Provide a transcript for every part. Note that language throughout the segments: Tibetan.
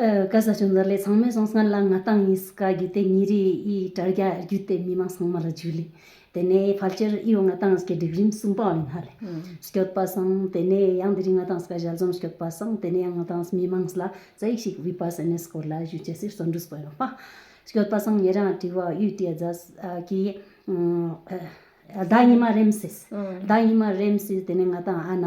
སྐལ་བཟང་ཆུང་འཛར་ལས་ཚང་མས་བཟང་སྔར་ལ་ང་ཏང་ཡིན་སྐ་རྒྱུད་དེ་མྱི་རི་ཡི་དྲར་རྒྱ་རྒྱུད་དེ་མི་མང་ཚང་མ་ལ་འཇུ་ལི། དེ་ནས་ཕལ་ཆེར་ཨི་ཡོ་ང་ཏང་སྐད་སྒྲིག་རིམ་གསུམ་པའོ་ཡིན་ཧ་ལེ། སྐྱོད་པ་སང་དེ་ནས་ཡང་དེ་རིང་ང་ཏང་སྐ་ཞལ་འཛོམས་སྐྱོད་པ་སང་དེ་ནས་ཡང་ང་ཏང་མི་མང་སླ་རྩ་ཡིག་ཞིག་བི་པ་སེ་ནས་སྐོར་ལ་ཞུ་ཆེ་སིར་བཙོན་འགྲུས་སྤོ་ཡོང་པ། སྐྱོད་པ་སང་ངེད་རང་དྲི་བ་ཡུས་ཏི་ཡ་རྫ་ཀི་ཨ་ཟླ་ཉི་མ་རེམ་སིས་ཟླ་ཉི་མ་རེམ་སིས་དེ་ནས་ང་ཏང་ཨ་ན།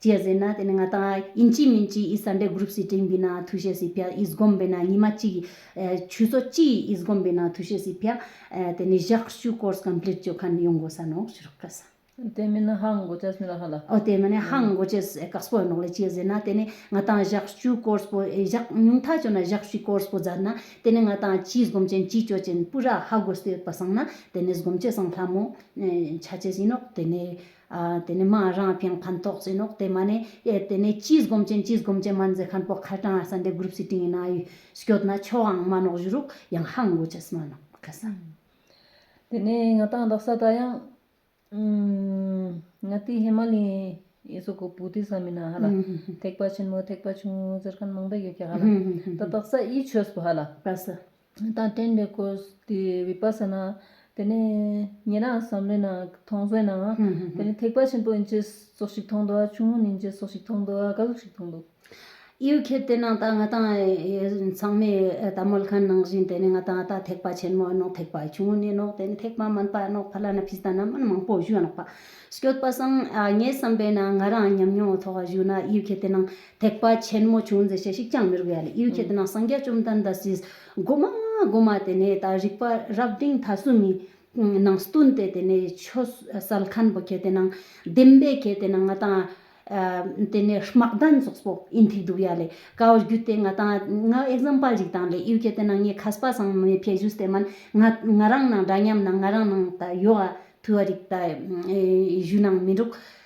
ཅེས་ཟེར་ན་དེ་ནི་ང་དང་ཨིན་ཅིའི་མིན་ཅིའི་ཨི་སཱ་འདྲེ་གུ་རུབ་སི་ཀྲིན་པི་ན་ཐུ་ཤེ་སི་ཕྱ་ཨིས་སྒོམ་པའི་ན་ཉི་མ་གཅིག་ཆུ་ཚོད་གཅིག་ཨིས་སྒོམ་པའི་ན་ཐུ་ཤེ་སི་ཕྱ་དེ་ནི་བཞག་བཞུགས course complete བྱོས་ཁ་ནི་ཡོང་དགོས་ས་ནོག་ཤུ་རོག་ཀ་ས། དེ་མིན་ན་ཧང་གོ་ཅེས་མི་ལ་ཧ་ལ། ཨོ་དེ་མིན་ན་ཧང་གོ་ཅེས་ཀ་སྤོ་ཡོ་ནོག་ལེ་ཅེས་ཟེར་ན་དེ་ནི་ང་དང་བཞག་བཞུགས course པོ་བཞག་ཉུང་མཐའ་བྱོས་ན་བཞག་བཞུགས course པོ་རྫ་ན་དེ་ནི་ང་དང་ཅིའི་སྒོམ་ཅན་ཅིའི་སྤྱོད་ཅན་སྤུ་ར་ཧ་གོ་སྟེ་པ་སང་ན་དེ་ནི་སྒོམ་ཆེ་སང་ལྷ་མོ་ཆ་ཅེས་ཡིན་ནོག་དེ་ནི་དེ་ནས་མ་རང་ཕེང་ཕན་ཐོགས་ཟིན་ནོག་དེ་མ་ནས་ཨེར་དེ་ནས་ཅིས་སྒོམ་ཅན་ཅིས་སྒོམ་ཅན་མ་མཛད་ཁན་པོ་ཁ་ཏྲང་ཨ་སན་དེ་གུར་བསི་ཏིང་ཡིན་ན་ཨ་ཡུས་སྐྱོད་ན་ཆོ་ཨང་མ་ནོག་བཞུ་རུག་ཡང་ཧང་གོ་ཆེས་མ་ནོག་ཁ་སང། དེ་ནས་ང་ཏང་དང་ས་ཏང་ཡང། ང་ཏི་ཧེ་མ་ལི་ཡི་སོ་གོ་པུ་ཏི་ས་མི་ན་ཧ་ལ། ཐེག་པ་ཆེན་མོ་ཐེག་པ་ཆུང་ངུ་ཟེར་ཁན་མང་པ་ཡོད་ཀྱི་ཧ་ལ། ད་དག་ས་ཨི་ཆོས་པོ་ཧ་ལ། ཁ་སང། ད་ལྟའི་འདི་ཀོ་དེ་བི་པ་སཱ་ནཱ་དེ་ནི་ཉན་རང་བསམ་བློའི་ནང་མཐོང་ཟོན་ནའང་དེ་ནི་ཐེག་པ་ཆེན་པོ་ཨིན་ཅེས་སོགས་ཤིག་མཐོང་འདུག་ཆུང་ངུ་ནས་ཨིན་ཅེས་སོགས་ཤིག་མཐོང་འདུག་བཀའ་སློབ་ཤིག་མཐོང་འདུག། ཡུལ་ཁྱེད་དེ་ནང་ད་ང་དང་ཚང་མས་ད་མོལ་ཁ་ནང་བཞིན་དེ་ནི་ང་དང་ད་ཐེག་པ་ཆེན་མོ་ཨེ་ནོག་ཐེག་པ་ཆུང་ངུ་ནས་ནོག་དེ་ནི་ཐེག་པ་དམན་པ་ཨེ་ནོག་ཕ་ལ་ན་ཕིས་ད་ནམ་མན་མང་པོ་བཞུགས་ཨེ་ནོག་པ། སྐྱོད་པ་སང་ངས་བསམ་པའི་ནང་ང་རང་ཉམས་མྱོང་ཐོག་བཞུགས་ན་ཡུལ་ཁྱེད་དེ་ནང་ཐེག་པ་ཆེན་མོ་བྱུང་ཟེར་བྱས་ཤིག་ཅང་མི་རིག་པའི་ཡ་ལ་ཨིའུ་ཁྱེད་རྣམས་སངས་རྒྱས་བཅོམ་ལྡན་འདས་སྲིད་སྒོ་མ་ལྔ་སྒོ་མ་དེ་ནས་དང་རིག་པ་རབ་བདེན་མཐའ་སུ་མི་སྣང་སྟོན་ཏེ་དེ་ནས་ཆོས་གསལ་མཁན་པོ་ཁྱེད་དེ་རྣམས་བདེན་པས་ཁྱེད་དེ་རྣམས་ང་དང། དེ་ནས་དམག་དོན་སོགས་པོ་ཨིན་ཐིག་འདུག་ཡ་ལས་དཀའ་བར་གྱུར་ཏེ་ང་དང་ང example ཞིག་དང་ལས་ཨིའུ་ཁྱེད་དེ་རྣམས་ངས་ཁ་སྤ་སངས་མི་ཕེ་བཞུགས་སྟེ་མན་ང་ང་རང་ནང་འདྲ་མཉམ་ནང་ང་རང་ནང་ད་ཡོད་ཨ་ཐུ་བ་རིག་ད་བཞུགས་ནང་མི་འདུག།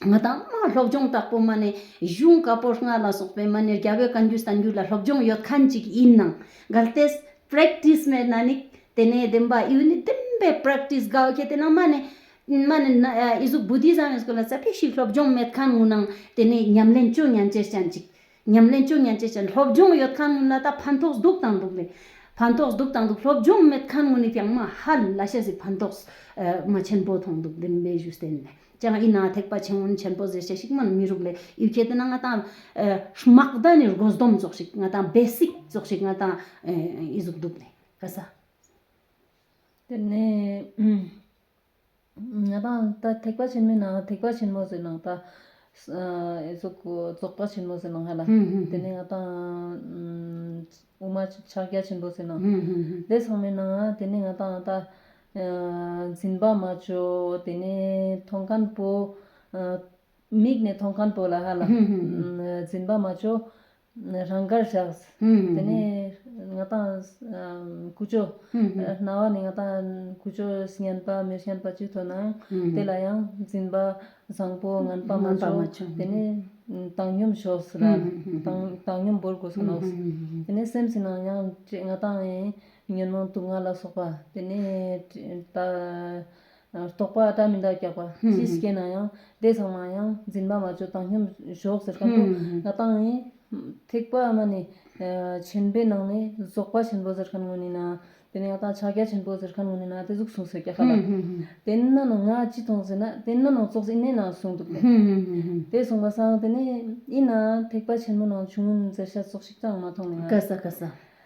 ང་དང་ཨ་མ་སློབ་སྦྱོང་དྲག་པོ་མ་ནས་གཞུང་བཀའ་པོད་ལྔ་ལ་སོགས་པའི་མ་ནས་རྒྱ་བོད་བཀའ་འགྱུར་གསར་འགྱུར་ལ་སློབ་སྦྱོང་ཡོད་མཁན་ཅིག་ཡིན་ནང་གལ་ཏེ Practice མེད་ན་ནི་དེ་ནས་བདེན་པ་ཨེ་ཡོད་ནི་བདེན་པའི Practice དགའ་བ་ཁྱེད་དེ་ནང་མ་ནས་མ་ནས་ན་ཨེ་གཟུགས Buddhism ཡོད་སྐོར་ལ་ཙེ་ཕེ་ཞིག་སློབ་སྦྱོང་མེད་མཁན་ངུ་ནང་དེ་ནས་ཉམས་ལེན་ཅུང་ཉམས་ཅེར་ཅན་ཅིག་ཉམས་ལེན་བཅུ་མཉམ་བྱེད་ཅིང་སློབ་སྦྱོང་ཡོད་ཁང་ངོས་ལ་དང་ཕན་ཐོགས་སྡུག་དང་སྡུག་མེད། ཕན་ཐོགས་སྡུག་དང་སྡུག་སློབ་སྦྱོང་མེད་ཁང་ངོས་ནས་ཀྱང་མ་ཧ་ལ་ཤ་ཟའི་ཕན་ཐོགས་མ་ཆེན་པོ་ཐོང་འདུག་བདེན་པའི་གཞུ་བསྟན་ནས་ཀྱང་ཡིན་ན་ཐེག་པ་ཆེན་མོ་ཆེན་པོ་ཟེར་བྱ་ཞིག་མ་མི་རུག་ལེ་ཡུལ་ཁྱེད་དེ་ན་ང་དང་སྨག་རྡ་ནས་རྒོལ་སྡོམ་རྫོགས་ཤིག་ང་དང་སྦས་སིག་རྫོགས་ཤིག་ང་དང་ཡི་གཟུགས་འདུག་ལེ་ག་ས། དེ་ནས། དང། ཐེག་པ་ཆེན་མོའི་ནང་ལ་ཐེག་པ་ཆེན་མོ་ཟེར་ནང་ད། རྫོགས་པ་ཆེན་མོ་ཟེར་ནང་ཧ་ལ། དེ་ནས་ང་ད། དབུ་མ་ཕྱག་རྒྱ་ཆེན་པོ་ཟེར་ནང། དེ་ཚང་མའི་ནང་དེ་ནས་ང་ད་ད། འཛིན་པ་མ་བཅོས་དེ་ནས་མཐོང་མཁན་པོ། མིག་ནས་མཐོང་མཁན་པོ་ལ་ཧ་ལ། འཛིན་པ་མ་བཅོས་རང་གར་བཞག། དེ་ནས་ང་དང། ཀུ་ཅོ། རྣ་བ་ནི་ང་དང་ཀུ་ཅོ་བསྙེན་པ་མི་བསྙེན་པ་ཅིག་ཐོས་ནའང། དེ་ལ་ཡང་འཛིན་པ་བཟང་པོ་ངན་པ་མ་བྱུང། དེ་ནས་བཏང་སྙོམས་ཞོག་ལ། བཏང་སྙོམས་བོར་དགོས་སོ་ནོ། དེ་ནས་སེམས་ཅན་རྣམས་ཡང་ང་དང། ཉོན་མོངས་དུག་ལྔ་ལ་སོགས་པ། དེ་ནས། རྟོག་པ་སྐྲ་མི་འདག་སྐྱག་པ་ཅི་ཞིག་སྐྱེས་ན་ཡང་བདེ་ཚང་མ་ཡང་འཛིན་པ་མ་བཅོས་བཏང་སྙོམས་ཞོག་ཟེར་གང་ཐུག་བཏང་ནས། ཐེག་པ་མ་ནི་ཆེན་པོའི་ནང་ནས་རྫོགས་པ་ཆེན་པོ་ཟེར་མཁན་ངོ་ནས་ན། དེ་ནས་ཡང་དག་ཕྱག་རྒྱ་ཆེན་པོ་ཟེར་མཁན་ངོ་ནས་ན་དེ་གཟུགས་བཟུང་ཟེར་སྐྱག་ཁ་ལ། དེ་ནས་ན་ནང་ང་ཅི་མཐོང་ཟེར་ན་དེ་ནས་ན་ནང་ཙོག་ཟེར་ཨིན་ནས་ན་གསུངས་འདུག་པས། དེ་གསུངས་པ་སང་དེ་ནས་ཨིན་ན་ཐེག་པ་ཆེན་མོ་ནང་བྱུང་ཟེར་ཤ་ཙོག་ཤིག་ཀྱང་མ་མཐོང་ནས་ན། བཀའ་ཟ་བཀའ་ཟ།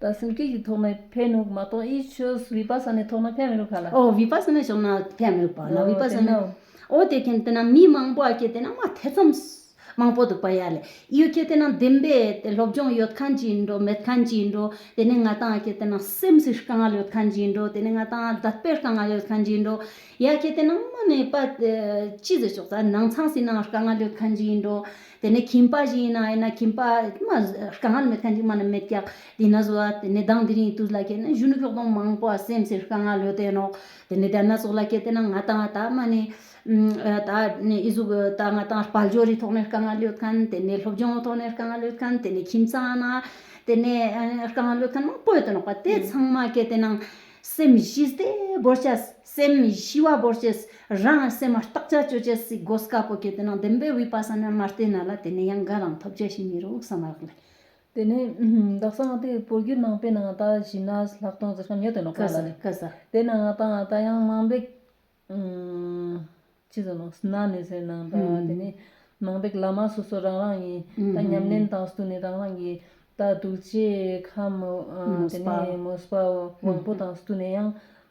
དང་སེམས་བསྐྱེད་ཀྱི་ཐོག་ནས་ཕན་ནུབ་མ་གཏོགས་དབྱེ་ཆོས་བི་པ་ས་ནའི་ཐོག་ན་ཕན་མི་རུབ་པ་ལ། འོ་བི་པ་ས་ནའི་ཕྱོགས་ན་ཕན་མི་རུབ་པ་ལ་བི་པ་ས་ན། འོ་དེ་མཁན་དེ་ན་མི་མང་པོ་ཀྱེ་དེ་ན་མ་དེ་ཙམ་མང་པོ་འདུག་པ་ཡ་ལེ། ཡོད་ཀྱེ་དེ་ན་བདེན་པས་དེ་སློབ་སྦྱོང་ཡོད་མཁན་གྱི་འགྲོ་མེད་མཁན་གྱི་འགྲོ། དེ་ནས་ང་དང་ཀྱེ་དེ་ན་སེམས་ཀྱི་དཀའ་ངལ་ཡོད་མཁན་གྱི་འགྲོ་དེ་ནས་ང་དང་དད་པའི་དཀའ་ངལ་ཡོད་མཁན་གྱི་འགྲོ། ཡ་ཀྱེ་དེ་ན་མ་ནས་པ་ཅི་ཟེར་ཆོག་ཙ་ནང་ཚང་སྲིད་ན་དཀའ་ངལ་ཡོད་མཁན་གྱི་འགྲོ། དེ་ནས་ཁྱིམ་པ་ཞིག་ཡིན་ན་ཡིན་ན་ཁྱིམ་པ་རྐང་ངར་མེད་མཁན་ཞིག་མ་ན་མེད་ཀྱང་དེ་ན་ཟུག་ལ་དེ་ནས་ལྡང་དེ་རིང་དུས་ལ་སྐྱེས་ན་གཞོན་ནུ་ཕྱོགས་སྡོམ་མང་པོ་བ་སེམས་ཅན་རྐང་ངར་ལོས་བསྟེན་ནོ། དེ་ནས་དེ་ན་ཟུག་ལ་སྐྱེས་དེ་ན་ང་དང་ད་མ་ནས་ད་ཨེ་ཟུག་ད་ང་དང་བལ་སྦྱོར་རི་ཐོག་ནས་རྐང་ངར་ལོས་མཁན་དེ་ནས་སློབ་སྦྱོང་ཐོག་ནས་རྐང་ངར་ལོས་མཁན་དེ་ནས་ཁྱིམ་ཚང་ན་དེ་ནས་རྐང་ངར་ལོས་མཁན་མང་པོ་ཡོད་དོ་ནོག་པ་དེ་ཚང་མ་སྐྱེས་དེ་ན་སེམས་གཞི་བདེ་བོར་བྱ། སེམས་མི་ཤི་བ་བོར་བྱེད། རང་ལ་སེམས་མ་རྟག་ཅར་སྤྱོད་བྱེད། སྲིད་སྒོ་དཀར་པོ་གྱེས་དེ་ན་བདེན་པའི་བི་པ་ས་ནཱ་མ་རྟའི་ནཱ་ལ་དེ་ནས་ཡང་འགའ་རང་ཐོབ་བྱ་ཞིང་མི་རུང་བསམ་རག་ལས། དེ་ནས་བདག་སང་ངག་དེའི་བོར་རྒྱུད་ནང་པའི་ནང་ད་བཞི་ན་ལྷག་མཐོང་རྩེ་གསུམ་ཡོད་དེ་ནོག་པ་ལ་ནི། དེ་ནང་ང་ད་ང་ད་ཡང་ནང་པའི། ཅི་ཟེར་ནོ་ན་ནི་ཟེར་ནང་ད་དེ་ནི། ནང་པའི་བླ་མ་སོ་སོ་རང་རང་ཡིན། ད་ཉམས་ལེན་དང་སྟུ་ནི་རང་རང་གི། ད་གདུག་བྱེད་ཁམས། དེ་ནི་མོས་པ་དབང་པོ་དང་སྟུ་ནི་ཡང།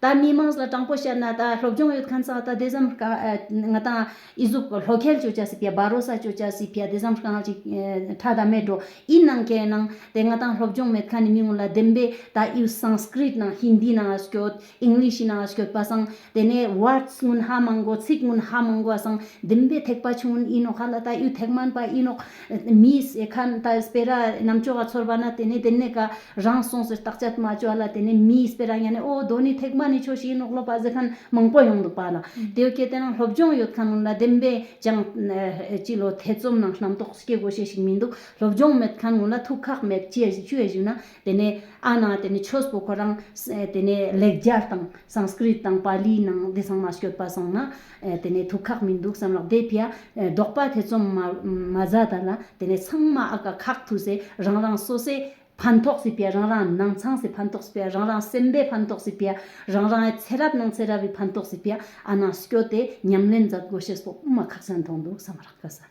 ད་མི་དམངས་ལ་དྲང་པོ་བཤད་ན་ད་སློབ་སྦྱོང་ཡོད་མཁན་ཙང་ད་དེ་ཙམ་ང་དང་ཨི་གཟུགས་ལྷོ་ཁལ་བཅོ་བྱ་སི་ཕ་བ་རོ་ས་བཅོ་བྱ་སི་ཕ་དེ་ཙམ་ཤ་ང་ཅིག་ཁྲ་ད་མེད་འགྲོ་ཨི་གནང་ཁལ་གནང་དེ་ང་དང་སློབ་སྦྱོང་མེད་མཁན་ནི་མི་ངོ་ལ་བདེན་པས་ད་ཨི Sanskrit ནང Hindi ནང་ཨ་སྐྱོད English ཡི་ནང་ཨ་སྐྱོད་པ་ཙང་དེ་ནས Words སྔོན་ཧ་མང་གོ་ཚིག་སྔོན་ཧ་མང་གོ་ཙང་བདེན་པས་ཐེག་པ་ཆུང་ཨི་ནོག་ཧ་ལ་ད་ཨི་ཐེག་དམན་པ་ཨི་ནོག་མི་ཟེ་ཁན་ད་སྤེ་ར་གནམ་ལྕོག་ཨ་ཚོར་བ་ན་དེ་ནས་དེ་ནས་ག་རང་སོང་ཟེར་བརྟག་དཔྱད་མ་བྱོས་ལ་དེ་ནས་མིས་སྤེ་ར་ཡ་ནས་ཨོ་རྡོ་ནི་ཐེག་མ་ནི་ཆོས་ཞིག་ཡིན་ནོ་སློབ་པ་གཟིགས་མཁན་མང་པོ་ཡོང་འདུག་པ་ལ། དེ་བས་ཁྱེད་དེ་ནང་སློབ་སྦྱོང་ཡོད་མཁན་རྣམས་ལ་བདེན་པས་ཀྱང། སྤྱི་ལོ་ཐེ་ཙོམ་ནང་རྣམ་རྟོག་སྐྱེ་དགོས་ཞེས་ཞིག་མི་འདུག་སློབ་སྦྱོང་མེད་མཁན་ངོ་ལ་ཐུགས་ཁག་མེད་ཅེས་བཞུགས་ན། དེ་ནས་ཨ་ན་དེ་ནས་ཆོས་སྤོ་ཁོ་རང། དེ་ནས་ལེགས་སྦྱར་དང་སངས་སྐྲིད་དང་པཱ་ལིའི་ནང་འདི་ཚང་མ་བཤོད་པ་སོང་ན། དེ་ནས་དུག་ཁག་མི་འདུག་བསམ་ལགས་དེ་ཕྱི་ཟློག་པ་དེ་ཚོམ་མ་བཟའ་ད་ལ་དེ་ནས་ཚང་མ་ཨ་ཀ་ཁག་ཐུག་སེ་རང་རང་སོ་སེ་ཕན་ཐོག་སི་པེ་རང་རང་ནང་ཚང་སེ་ཕན་ཐོག་སི་པེ་རང་རང་སེམས་པའི་ཕན་ཐོག་སི་པེ་རང་རང་ཚེ་རབས་ནང་ཚེ་རབས་ཡི་ཕན་ཐོག་སི་པེ་ཨ་ནང་སྐྱོ་དེ་ཉམས་ལེན་མཛད་དགོས་ཤེས་སོགས་དབུ་མ་ཁག་ཅན་མཐོང་འདུག་བསམ་རག་ག་ས།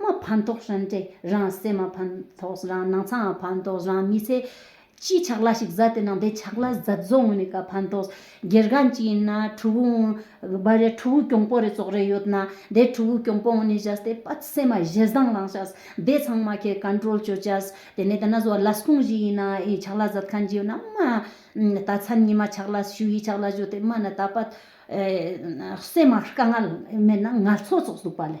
མ་ཕན་ཐོགས་ཧྲན་ཏེ་རང་བསྲེས་མ་ཕན་ཐོགས་རང་སྣང་ཚ་མ་ཕན་ཐོགས་རང་མི་ཚེ། སྤྱིའི་ཆགས་ལ་ཞིག་བཟའ་དེ་ནང་བསྡད་ཆགས་ལ་བཟའ་བཟོ་ངོ་ནི་ག་ཕན་ཐོགས། སྒེར་སྒང་ཅིག་ཡིན་ན་ཕྲུ་གུ་བ་རེ་ཕྲུ་གུ་གྱོང་པོ་རེ་ཙོག་རེ་ཡོད་ན་དེ་ཕྲུ་གུ་གྱོང་པོ་ངོ་ནི་བཞག་སྟེ་སྤ་སེ་མ་བཞེས་བཟང་ལངས་བྱ། དེ་ཚང་མ་ཁས་གན་དྲོལ་བྱོས་བྱ། དེ་ནས་ད་ན་བཟོ་ལ་སོང་བཞིན་ཡིན་ན་ཡིན་ཆགས་ལ་བཟའ་མཁན་ཅིག་ཡོད་ན་མ། ད་མཚན་ཉིད་མ་ཆགས་ལ་ཞུ་ཡིས་ཆགས་ལ་བཞོ་དེ་མ་ནི་ད་སྤ་སེ་མ་དཀའ་ངལ་མེད་ན་ངལ་འཚོ་ཙོག་ཟུག་པ་ལས།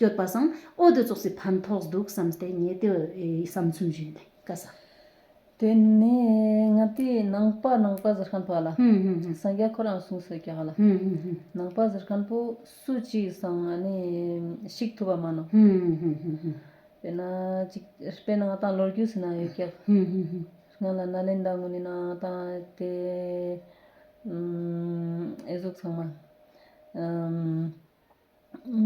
ཡོད་པ་བཟང་ཨོ་དེ་ཙོག་སི་ཕན་ཐོགས་འདུག་བསམ་སྟེ་ངས་དེ་བསམ་ཚུལ་བཞིན་དེ་ཀ་བསམ། དེ་ནས་ང་དེ་ནང་པ་ནང་པ་ཟེར་མཁན་པོ་ལ་སང་རྒྱ་ཁོ་རང་གསུངས་སོ་ཀྱག་ལ་ནང་པ་ཟེར་མཁན་པོ་སུ་གཅིག་སང་ཨ་ནི་ཤིག་ཐུབ་པ་མ་ནོ་དཔེ་ན་ཅིག་དཔེ་ན་ང་དང་ལོར་རྒྱུས་སུ་ན་ཡོད་ཀྱག་ང་ལ་ན་ལེན་དང་ངོ་ནི་ན་དང་དེ་ཨེ་གཟུགས་ཚང་མ།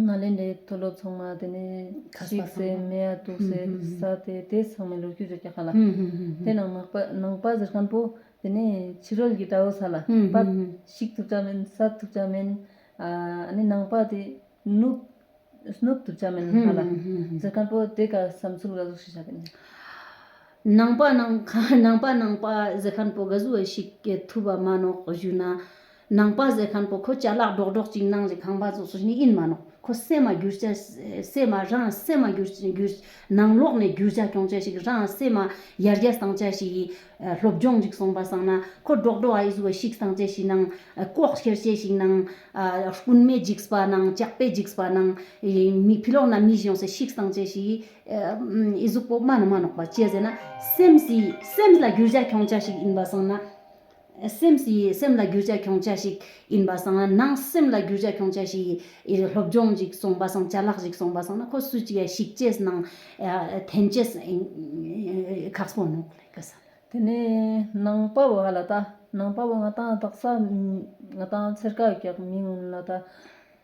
ནཱ་ལེནྡྲའི་མཐོ་སློབ་ཚང་མ་དེ་ནས་ཤིག་ཟེར་མེ་ཡ་དུག་ཟེར་ས་དེ་དེ་ཚང་མའི་ལོ་རྒྱུས་རེད་ཀྱི་ཧ་ལ། དེ་ནང་མག་པ་ནང་པ་ཟེར་མཁན་པོ་དེ་ནས་ཕྱི་རོལ་གྱི་དགྲ་བོ་ས་ལ་པ་ཞིག་ཐུབ་ཆ་མིན་ས་ཐུབ་ཆ་མིན། ནི་ནང་པ་དེ་ནུབ་སྣུབ་ཐུབ་ཆ་མིན་ཧ་ལ། ཟེར་མཁན་པོ་དེ་ག་བསམ་ཚུལ་ག་གཟུགས་ཤིག་བྱ་དེ་ནས། ནང་པ་ནང་པ་ནང་པ་ཟེར་མཁན་པོ་ག་གཟུགས་བ་ཞིག་ཐུབ་བ་མ་ནོག་བཞུགས་ན། ནང་པ་ཟེར་མཁན་པོ་ཁོ་ལྕགས་ལག་སྒྲོག་སྒྲོག་ཅིག་གནང་རྗེས་ཁང་པ་ཚོ་སུ་ཞིག་ཡིན་མ་གནང་ཁོ་སེམས་མ་སྒྱུར་བྱ་སེམས་མ་རང་སེམས་མ་སྒྱུར་བྱ། ནང་ལོག་ནས་སྒྱུར་བྱ་སྐྱོང་བྱ་ཞིག་རང་སེམས་མ་ཡར་རྒྱས་བཏང་བྱ་ཞིག་ཡིན། སློབ་སྦྱོང་ཅིག་སོང་པ་བསམ་ན་ཁོ་སྒྲོག་སྒྲོག་ཨ་ཡིས་བཟོ་བ་ཞིག་བསང་བྱ་ཞིག་གནང། ལྐོག་ཁྱེར་བྱ་ཞིག་གནང། སྤུན་མེད་འཇིགས་པ་གནང་སྐྱག་པས་འཇིགས་པ་གནང། མི་ཕི་ལོག་ན་མི་གཞོན་ས་ཞིག་བསང་བྱ་ཞིག་ཨི་གཟུགས་པོ་དམའ་ན་མ་ནོག་པ་བྱས་ཟེར་ན་སེམས་སེམས་ལ་སྒྱུར་བྱ་སྐྱོང་བྱ་ཞིག་ཡིན་པ་བསམ་ན། སེམས་ཀྱི་སེམས་ལ་རྒྱུ་ཆ་ཁྱོང་ཆ་ཞིག་ཡིན་པ་སང་ནང་སེམས་ལ་རྒྱུ་ཆ་ཁྱོང་ཆ་ཞིག་ཡིན་སློབ་སྦྱོང་ཞིག་སོང་པ་སང་ཆ་ལག་ཞིག་སོང་པ་སང་ན་ཁོ་སུ་ཅིག་ཡ་ཞིག་ཅེས་ནང་ཐན་ཅེས་ཁག་སོང་ནོག་ལེ་ཀ་སང། དེ་ནས་ནང་དཔའ་བོ་ཧ་ལ་ད་ནང་དཔའ་བོ་ང་དང་དག་ས་ང་དང་ཚེར་ཀ་གག་མི་ངོ་ན་ད།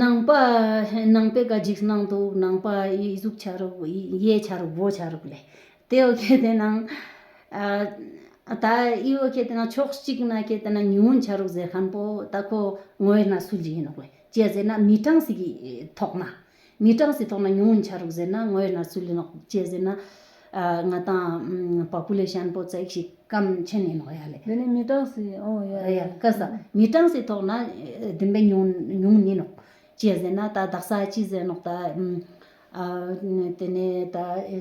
ནང་པ་ནང་པའི་བཀའ་འཇིགས་གནང་འདུག་ནང་པ་ཡིད་གཟུགས་ཆ་རུག་གཡས་ཆ་རུག་སྦོ་ཆ་རུག་ལས། དེ་འོ་ཁད་དེ་ནང། ད་ཡིད་འོ་ཁད་དེ་ནང་ཕྱོགས་གཅིག་ན་ཁད་དེ་ནང་ཉི་འོན་ཆ་རུག་ཟེར་ཁན་པོ་ད་ཁོ་ངོས་ན་སུ་ལི་ཡིན་ནོག་ལས་ཅེ་ཟེར་ན་མི་ཀྲང་ཟིག་གིས་ཐོག་མ། ངའི་གྲངས་སུ་ཐོག་ན་ཉུང་ངུ་འཆར་རོགས་ཟེར་ན་ངོ་ཡོད་ན་སུ་ལས་ནོག་ཅེས་ཟེར་ན། ང་དང་བ་པུ་ལས་ཤན་པོ་ཙག་ཞིག་སྐམ་ཆེན་ནས་ནོག་ཡ་ལེ། དེ་ནི་མི་གྲངས་སུ་ཨོ་ཡ་ཡ། སྐད་ས། མི་གྲངས་སུ་ཐོག་ན་བདུན་པའི་ཉུང་ཉུང་ནས་ནོག་ཅེས་ཟེར་ན་ད་བདག་ས་ཅི་ཟེར་ནོག་ད། དེ་ནས་ད་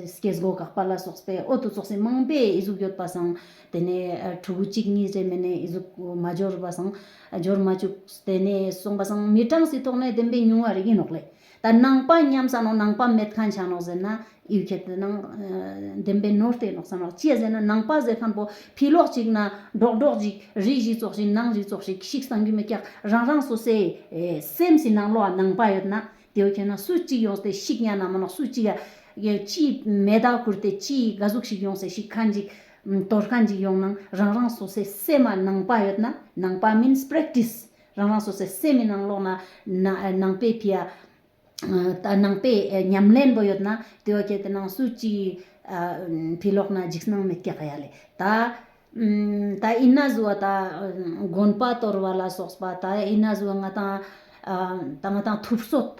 སྐྱེས་སྒོ་འགག་པ་ལ་སོགས་པའི་ཨོ་ཏོ་ཙོག་སེ་མང་པའི་ཨི་གཟུགས་ཡོད་པ་སང་དེ་ནས་ཕྲུ་གུ་གཅིག་གཉིས་རེ་མེད་ནས་ཨི་གཟུགས་མ་འབྱོར་བ་སང། སྦྱོར་མ་བཅུ། དེ་ནས་གསུངས་པ་སངས་མི་གྲངས་སུ་ཐོགས་ནས་བདེན་པའི་ཉུང་བ་རིག་ཡིན་ནོག་ལེ། ད་ནང་པ་མཉམ་ས་ནོག་ནང་པ་མེད་གང་ཆགས་ནོག་ཟེར་ན། ཡུལ་ཁྱད་དུ་ནང། བདེན་པའི་ནོར་དེ་ནོག་ས་ནོག་ཅེས་ཟེར་ན་ནང་པ་ཟེར་ཁང་པོ་ཕི་ལོག་ཅིག་ན། སྒྲོག་སྒྲོག་ཅིག་རིགས་ཞིག་ཙོག་ཞིག་ནང་ཞིག་ཙོག་ཞིག་ཤིག་སངས་རྒྱུ་མི་ཀྱག་རང་རང་སོ་སའི། སེམས་སུ་ནང་ལོག་ནང་པ་ཡོད་ན། དེའུ་ཁྱེར་ན་སུ་གཅིག་ཡོང་སྟེ་ཤིག་གཉའ་ནང་མ་ནོག་སུ་གཅིག། ཅིའི་མེ་དག་ཁུར་ཏེ་ཅིའི་དགའ་གཟུགས་ཤིག་ཡོང་སའི་ཤིག་ཁ་འཇིག། དོ་ལྷ་འཇིག་ཡོང་ནང་རང་རང་སོ་སའི་སེ་མ་ནང་པ་ཡོད་ན་ནང་པ means practice རང་རང་སོ་སའི་སེ་མའི་ནང་ལོག་ན་ནང་པའི་ཕི་ཡ་ནང་པའི་ཉམས་ལེན་པོ་ཡོད་ན་དེ་བ་ཁྱེད་ནང་སུ་གཅིག་ཕི་ལོག་ན་འཇིགས་སྣང་མེད་སྐྱག་ཡ་ལེ། ད་ཨི་ན་ཟུ་བ་ད་དགོན་པ་དོར་བ་ལ་སོགས་པ་ད་ཨི་ན་ཟུ་བ་ང་དང་ང་དང་ཐུབ་སོད་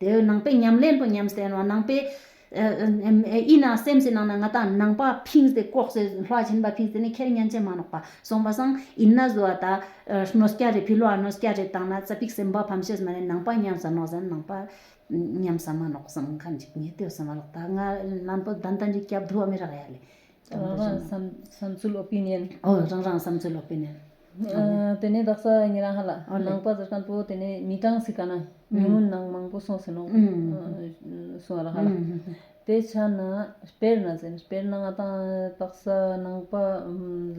དེ་འོད་སྣང་པའི་ཉམས་ལེན་པོ་ཉམས་སྟེར་བ་སྣང་པའི། ཨི་ན་སེམས་ཀྱི་ནང་ན་ང་དང་ནང་པ་ཕིང་སྟེ་ལྐོག་ཟས་ལྷ་བྱིན་པ་ཕིང་སྟེ་ནི་ཁྱེར་གཉན་ཆེན་མ་ནོག་པ་སོང་བ་སང་ཨི་ན་བཟོ་བ་དང། ནོ་སྐྱ་རེ་ཕི་ལོ་ཨ་ནོ་སྐྱ་རེ་བཏང་ན་རྩ་ཕིག་སེམས་དཔའ་ཕམ་ཤེས་མ་ནི་ནང་པ་ཉམས་སམ་ནོག་སམ་ནང་པ། ཉམས་སམ་མ་ནོག་སང་ཁ་འཇིག་ཉེ་དུས་སེམས་བ་ལོག་ད་ང་ལན་པོ་ད་ད་འཇིག་སྐྱབས་དུ་བ་མི་རག་ཡ་ལེ། རང་རང་བསམ་ཚུལ་ལོག་པའི་གཉེན། ཨོ་རང་རང་བསམ་ཚུལ་ལོག་པའི་གཉེན། དེ་ནས་བདག་ས་ངེ་རང་ཧ་ལ་ནང་པ་ཟེར་གང་པོ་དེ་ནས་མི་གྲངས་སི་ག་ན་ཉུང་ངུ་ནང་མང་པོ་སོང་ཟིན་ནོ་སུ་ཨ་ར་ཧ་ལ་དེ་ཆ་ན་དཔེར་ན་ཟེར་དཔེར་ན་ང་དང་བདག་ས་ནང་པ་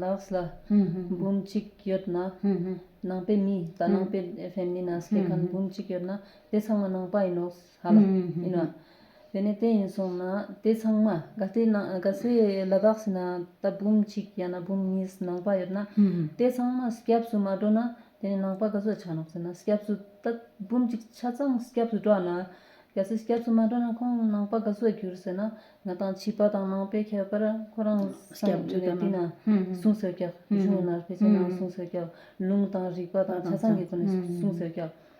ལགས་ལ་འབུམ་གཅིག་ཡོད་ན་ནང་པའི་མི་ད་ནང་པའི་ཧྥེམ་ལི་ན་སི་ག་ཁན་འབུམ་གཅིག་ཡོད་ན་དེ་ཚང་མ་ནང་པ་ཡིན་ནོ། ཧ་ལ། ཡིན་ནོ། དེ་ནས་དེ་ཡིན་སོང་ན་དེ་ཚང་མ་དགའ་བདེའི་ནང་དགའ་བསུའི་ལ་དྭགས་སུ་ན་ད་འབུམ་གཅིག་ཡང་ན་འབུམ་གཉིས་ནང་པ་ཡོད་ན་དེ་ཚང་མ་སྐྱབས་སུ་མ་འགྲོ་ན་དེ་ནས་ནང་པ་ག་ཚོད་ཆགས་ནོ་ཟེར་ན་སྐྱབས་སུ་ད་འབུམ་གཅིག་ཆ་ཚང་སྐྱབས་སུ་འགྲོ་ན་གལ་སྲིད་སྐྱབས་སུ་མ་འགྲོ་ན་ཁོང་ནང་པ་ག་ཚོད་འགྱུར་ཟེར་ན་ང་དང་བྱིས་པ་དང་ནང་པའི་ཁྱད་པར་ཁོ་རང་སངས་རྒྱས་ནས་དེ་ན་གསུང་སོད་སྐྱག་གཞུང་ན་བེ་ཅོན་ན་གསུང་སོད་སྐྱག་ལུང་དང་རིགས་པ་དང་ཆ་ཚང་གི་སྒོ་ནས་གསུང་སོད་སྐྱག།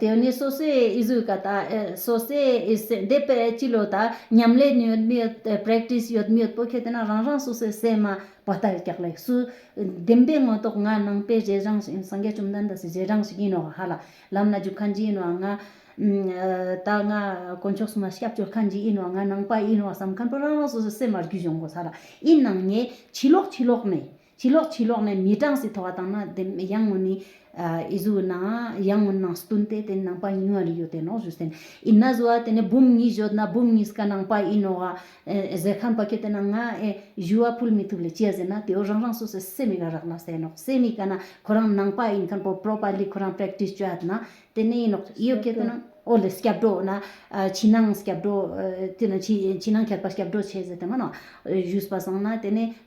དེ་ནས་སོ་སོའི་ཨི་ཟུར་ག་དང་སོ་སོའི་ཨི་སེམས་དེ་པས་ཅི་ལོ་ད་ཉམས་ལེན་ཡོད་མི་ཡོད Practice ཡོད་མི་ཡོད་པོ་ཁྱེད་རང་རང་རང་སོ་སོའི་སེམས་མ་བ་ལྟར་རྒྱག་ལེགས་སུ། བདེན་པའི་དངོས་རྟོགས་ང་ནང་པའི་རྗེས་འབྲང་ཞིག་ཡིན་སངས་རྒྱས་བཅོམ་ལྡན་འདས་སུ་རྗེས་འབྲང་ཞིག་ཡིན་ནོ་ག་ཧ་ལ། ལམ་སྣ་རྒྱུག་མཁན་གྱི་ཡིན་ནོ་ང། ད་ང་དཀོན་མཆོག་གསུམ་ལ་སྐྱབས་བཅོལ་མཁན་གྱི་ཡིན་ནོ་ང་ནང་པ་ཡིན་ནོ་བསམ་མཁན་པོ་རང་རང་སོ་སོའི་སེམས་མ་རྒྱུད་གཞུང་གོ་ས་ལ་ཡིན་ནང་ངས་ཕྱི་ལོགས་ཕྱི་ལོགས་ནས། ཕྱི་ལོགས་ཕྱི་ལོགས་ནས་མི་གྲངས་སུ་ཐོ་བ་དང་ན་དེ་ཡང་ངོ་ནི་ཨེ་ཟུ་ན་ཡང་ངོ་ནང་སྟུན་ཏེ་དེ་ནང་པ་ཉུང་བ་རི་ཡོད་དེ་ནོག་ཟུ་སེན་ཨིན་ན་ཟུ་བ་དེ་ནས་འབུམ་གཉིས་བཞོད་ན་འབུམ་གཉིས་ཀ་ནང་པ་ཨིན་ནོག་ཨ་ཟེ་ཁན་པ་ཁྱོད་དེ་ན་ང་ཨེ་ཟུ་བ་ཕུལ་མི་ཐུབ་ལེ་ཅི་ཟེ་ན་དེའོ་རང་རང་སོ་སོའི་སེ་མི་ཀ་རག་ན་སེ་ནོག་སེ་མི་ཀ་ན་ཁོ་རང་ནང་པ་ཨིན་ཁན་པོ་པྲོ་པ་ལི་ཁོ་རང Practice བྱོ་ཨད་ན་དེ་ནས་ཨིན་ནོག་ཨིོ་ཁྱོད་དེ་ན་ཨོ་ལེ་སྐྱབས་འགྲོ་ན་ཕྱི་ནང་སྐྱབས་འགྲོ་དེ་ན་ཕྱི་ནང་ཁྱད་པ་སྐྱབས་འགྲོ་བྱེད་ཟེ་དེ་མ་ནོག་ཨེ་ཟུས་པ་སང་ན་དེ་ནས་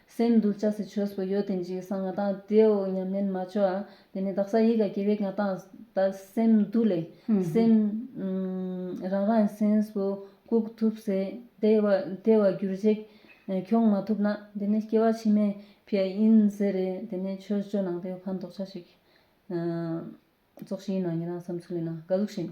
སེམས་འདུལ་བྱ་སྲིད་ཆོས་སུ་ཡོད་དེ་འཇིག་སང་ང་དང་དེའོ་སྙམ་ནན་མ་བྱོ། དེ་ནས་བདག་ས་ཡི་ག་སྐྱེ་བའི་ང་དང་བདག་སེམས་འདུལ་ལས། སེམས། རང་རང་སེམས་སུ་བཀུག་ཐུབ་ཟེ། དེ་བ་གྱུར་རྗེས་ཁྱོག་མ་ཐུབ་ན། དེ་ནས་སྐྱེ་བ་ཕྱི་མའི་ཕྱི་ཡིན་ཟེར་རེ། དེ་ནས་ཆོས་སྤྱོད་ནང་དེ་ཕན་འདོགས་བྱ་ཞིག། ཙོག་ཤི་ཡིན་ན་ཡིན་རང་སེམས་ཚུགས་ལེན་ན་དགའ་གཟུགས་བཞིན།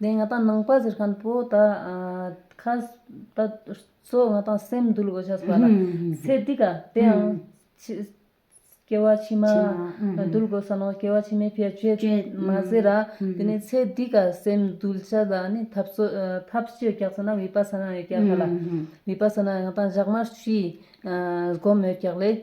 དེ་ང་དང་ནང་པ་ཟེར་མཁན་པོ་དག་ཁ་ད་སོ་ང་དང་སེམས་འདུལ་དགོས་ཆགས་པ་ལ་ཚེ་འདི་ག་དེའང་སྐྱེ་བ་ཕྱི་མ་འདུལ་དགོས་ས་ནོ་སྐྱེ་བ་ཕྱི་མའི་ཕྱིར་ཆོས་མ་ཟེར་ར་དེ་ནས་ཚེ་འདི་ག་སེམས་འདུལ་བྱ་ལ་ནི་ཐབས་སོ་ཐབས་སྤྱོད་རྒྱག་ས་ན་བི་པ་ས་ན་ཡོད་རྒྱག་ག་ལ་བི་པ་ས་ན་ང་དང་བཞག་མ་ཕྱིའི་སྒོམ་ཡོད་རྒྱག་ལས།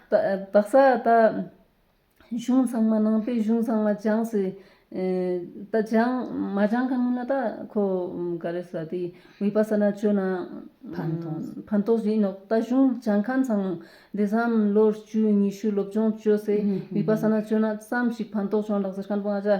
བག་ས་ད། གཞུང་ཚང་མ་ནང་པའི་གཞུང་ཚང་མ་སྦྱངས་སི། ད་སྦྱངས་མ་སྦྱངས་ག་མིན་ན་ད་ཁོ་ག་རེ་ཟ་དེ་བི་པ་ས་ན་སྤྱོད་ན། ཕན་ཐོགས། ཕན་ཐོགས་ཡིན་ནོག་ད་གཞུང་སྦྱངས་མཁན་ཚང་མ་འདི་བསམ་ལོ་བཅུ་ཉི་ཤུ་སློབ་སྦྱོང་སྤྱོད་སེ་བི་པ་ས་ན་སྤྱོད་ན་བསམ་ཞིག་ཕན་ཐོགས་བྱུང་ལགས་ཟེར་མཁན་པོ་ང་ཅག་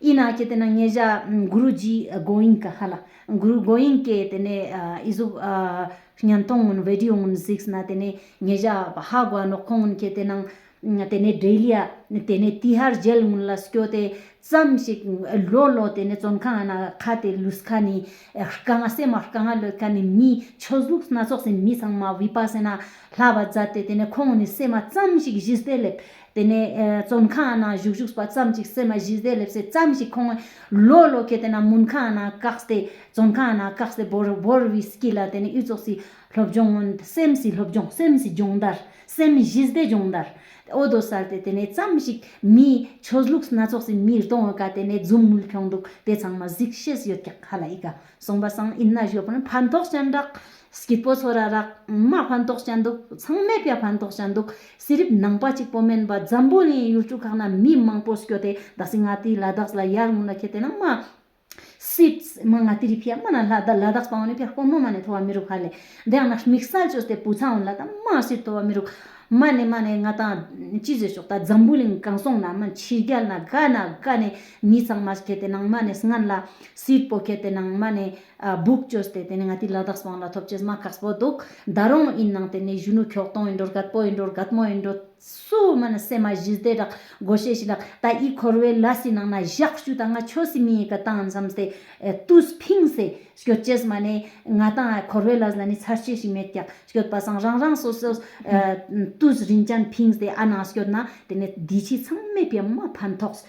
ཡིན་ན་ཅི་དེ་ན་ངེད་བཞག་གུ་རུ་རྗེས་དགོན་ཡིན་ག་ཧ་ལ་གུ་རུ་དགོན་ཡིན་སྐད་དེ་ནས་ཨི་ཟོབ་ཉན་ཐོང་ངོན་བེ་ཏིའོ་ངོན་གཟིགས་ན་དེ་ནས་ངེད་བཞག་ཧ་གོ་ཨ་ནོག་ཁོང་ངོན་ཁྱེད་དེ་ནང་དེ་ནས་བསྒྲེས་ལི་ཨ་དེ་ནས་དེ་ཧར་རྒྱལ་ངོན་ལ་སྐྱོ་དེ་ཙམ་ཞིག་ལོ་ལོ་དེ་ནས་བཙོན་ཁང་ཨ་ན་ཁ་དེ་ལུས་ཁ་ནི་རྐ་ང་སེ་མ་རྐ་ང་ལོས་ཁ་ནི་མི་ཆོས་གཟུགས་སྣ་ཚོགས་སེ་མི་ཚང་མ་བི་པ་སེ་ན་ལྷ་བ་བཛད་དེ་དེ་ནས་ཁོང་ངོ་ནི་སེ་མ་ཙམ་ཞིག་གཞི་སེ་ལེབ་དེ་ནས་བཙོན་ཁང་ནང་བཞུགས་བཞུགས་པ་ཙམ་གཅིག་སེམས་མ་གཞི་བཟླས་ལེབ་སེ་ཙམ་ཞིག་ཁོང་ལོ་ལོ་གྱེས་དེ་ནང་མུན་ཁང་ནང་བཀག་སྟེ་བཙོན་ཁང་ནང་བཀག་སྟེ་བོར་བོར་བའི་སྐྱིད་ལ་དེ་ནས་དབུས་ཙོག་སི་སློབ་སྦྱོང་སྔོན་སེམས་སི་སློབ་སྦྱོང་སེམས་སི་སྦྱོང་བརྡར་སེམས་གཞི་བཟླས་སྦྱོང་བརྡར་ཨོ་རྡོ་གསར་དེ་དེ་ནས་ཙམ་ཞིག་མིའི་ཆོས་ལུགས་སྣ་ཚོགས་སི་མིར་གཏོང་བ་ཀ་དེ་ནས་རྫུན་དངུལ་ཁྱོག་འདུག་དེ་ཚང་མ་གཟིགས་ཤེས་ཡོད་ཀྱག་ཧ་ལ་ཡི་ཀ་གསུངས་པ་སངས་ཨིན་ན་གཞོན་ཕན་ཕན་ཐོགས་ཅན་རག། སྐྱིད་པོ་ཚོ་ར་རག་མ་ཕན་ཐོགས་ཅན་འདུག་ཚང་མས་ཀྱ་ཕན་ཐོགས་ཅན་འདུག་ཟི་རིབ་ནང་པ་གཅིག་པོ་མིན་པ་འཛམ་བུ་གླིང་ཡུལ་གྲུ་ཁག་ན་མི་མང་པོ་སྐྱོ་སྟེ་ད་སི་ང་ཏི་ལ་དྭགས་ལ་ཡར་ངོ་ན་ཁྱེད་ཏེ་ནང་མ། Swedes། མ་ང་ཏི་རི་ཕྱེ་མ་ན་ལ་དྭགས་བཏང་བ་ནི་ཕྱ་ཁོ་ནོ་མ་ནས་ཐོ་བ་མི་རུག་ཧ་ལས་དེ་ཡང་ན་མིག་སལ་གཅོད་སྟེ་བུ་ཚང་བོ་ལ་ད་མ་སིར་ཐོ་བ་མི་རུག་མ་ནས་མ་ནས་ང་ད་ཅི་བཟོས་ཆོག་ད་འཛམ་བུ་གླིང་གང་སོང་ན་མ་ཕྱི་རྒྱལ་ན་ག་ན་ག་ནས། མི་ཚང་མ་གལ་ཏེ་ནང་མ་ནས་སྔན་ལ། སིད་པོ་གལ་ཏེ་ནང་མ་ནས། སྦུག་བཅོས་ཏེ་དེ་ནས་ང་དེའི་ལ་དྭགས་སུ་བང་ལ་ཐོབ་ཆེས་མ་གགས་པོ་འདུག་ད་རུང་ཡིན་ནང་དེ་ནས་གཞོན་ནུ་ཁྱོགས་སྟོང་ཡིན་འགྲོ་རྒད་པོ་ཡིན་འགྲོ་རྒད་མོ་ཡིན་འགྲོ། སུ་མ་ནས་སེ་མ་བཞི་སྟེ་རག་སྒོ་ཤས་ཤིག་ལ་ད་ཡིད་འཁོར་བའི་ལ་སི་ནང་ན་བཞག་ཞུ་ད་ང་ཆོས་སི་མི་ཡི་ག་བཏང་མཚམས་ཏེ། ཏུས་ཕིང་སེ། སྐྱོད་ཆེས་མ་ནས། ང་དང་འཁོར་བའི་ལ་སི་ལ་ནི་ཚར་ཆེས་ཤིག་མེད་ཀྱང་སྐྱོད་པ་སང་རང་རང་སོ་སོས། ཏུས་རིན་ཅན་ཕིང་སེ་ཨ་ནང་སྐྱོད་ན་དེ་ནས་འདི་ཕྱི་ཚང་མས་པད་མ་ཕན་ཐོགས།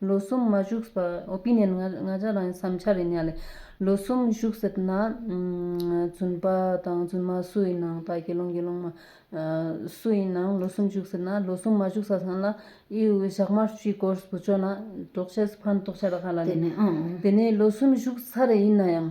ལོ་གསུམ་མ་བཞུགས་པར་ཨོ་པི་ནན་ང་ཅག་རང་གི་བསམ་འཆར་ཡིན་ཡང་ལེ། ལོ་གསུམ་བཞུགས་ཟེར་ན། རྫུན་པ་དང་རྫུན་མ་སུ་ཡིན་ནའང་དག་དགེ་སློང་དགེ་སློང་མ། སུ་ཡིན་ནའང་ལོ་གསུམ་བཞུགས་ཟེར་ན་ལོ་གསུམ་མ་བཞུགས་ས་ཚང་ལ་དབྱིའུ་ཞག་དམར་བཅུའི་སྐོར་བཟོ་ཆོག་ན། གྲོགས་བྱས་སུ་ཕན་ཐོགས་ཆ་ལ་ཧ་ལ་ནས། དེ་ནས་ལོ་གསུམ་བཞུགས་ཚར་ཡིན་ན་ཡང།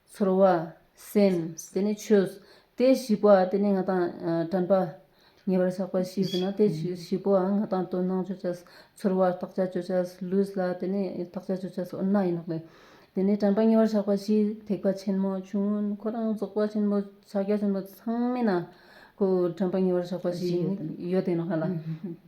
ཚོར་བ། སེམས། དེ་ནི་ཆོས། དེ་བཞི་པོ་འམ་དེ་ནི་ང་དང། དྲན་པ། ཉེ་བར་བཞག་པ་བཞི་ཟིན་ན་དེ་བཞི་པོ་འམ་ང་དང་དོན་སྣང་བརྗོད་བྱ། ཚོར་བ། བརྟག་བྱ་བརྗོད་བྱ། ལུས་ལ་དེ་ནི་བརྟག་བྱ་བརྗོད་བྱ་འོ་ན་ཡིན་ནོ། དེ་ནི་དྲན་པ་ཉེ་བར་བཞག་པ་བཞི་ཐེག་པ་ཆེན་མོ་ཆུང་ངུ་ཁོ་རང་རྫོགས་པ་ཆེན་པོ་ཕྱག་རྒྱ་ཆེན་པོ་ཚང་མིན་ན། དྲན་པ་ཉེ་བར་བཞག་པ་བཞི་ཡོད་དེ།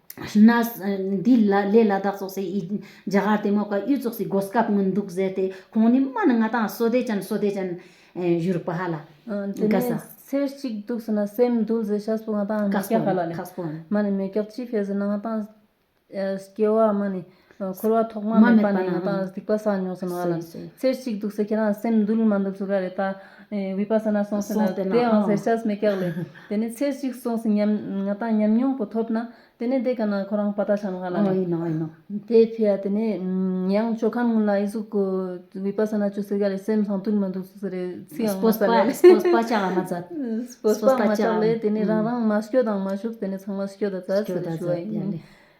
ན། འདི་ལས་ལ་དྭགས་ཙོག་སེ་ཡིས་རྒྱ་གར་དེ་མོ་ཀ་གཡུ་ཙོག་སེའི་སྒོ་སྐབས་ངོ་འདུག་ཟེར་ཏེ་ཁོང་ནི་སྨྲ་ན་ང་དང་བསོད་བདེ་ཅན་བསོད་བདེ་ཅན། བཞུར་པ་ལ། དེ་ནས་ཚེ་གཅིག་འདུག་ཟེར་ན་སེམས་འདུལ་ཟེར་ཤ་སྤུ་ང་དང་མེ་སྐྱག་ཧ་ལ་ལས། མ་ནི་མེ་སྐྱག་ཅི་ཕེ་ཟེར་ན་ང་དང། སྐྱེ་བ་མ་ནི། འཁོར་བ་ཐོག་མ་མེད་པ་ནས་ཡང་དག་སྡིག་པ་བསགས་མྱོང་ཟེར་མ་ལ། ཚེ་གཅིག་འདུག་ཟེར་ཁྱེད་རང་སེམས་སྡུག་ལ་མ་འདུག་ཟེར་ག་རེ་ད། བི་པ་ས་ན་སོང་ཟེར་ན་དེ་ཡང་ཟེར་ཤ་མེད་སྐྱག་ལེ། དེ་ནས་ཚེ་གཅིག་སོང་ཟེར་ཉམས་ང་དང་ཉམས་མྱོང་པོ་ཐོབ་ན། དེ་ནས་འདི་ག་ན་ཁོ་རང་བ་ད་བྱ་མ་ག་ལ་ནས། དེ་ཕི་ཡ་དེ་ནས་ཡང་ཆོ་ག་ངོ་ལ་ཨི་ཟུག་གོ། བི་པ་ས་ན་བྱོས་ཟེར་ག་རེ་སེམས་སྡུག་ལ་མ་འདུག་ཟེར་རེ་ཚིག་ཡང་མ་ཟ་ལེ། སྤོས་པ་ཅག་ལ་མ་ཟ། སྤོས་པ་མ་ཅག་ལེ་དེ་ནས་རང་རང་མ་བྱོས་དང་མ་བྱུག་དེ་ནས་ཚང་མ་བྱོས་ད་ཟ་ཟེར་རེ་ཞུ་བ་ཡིན།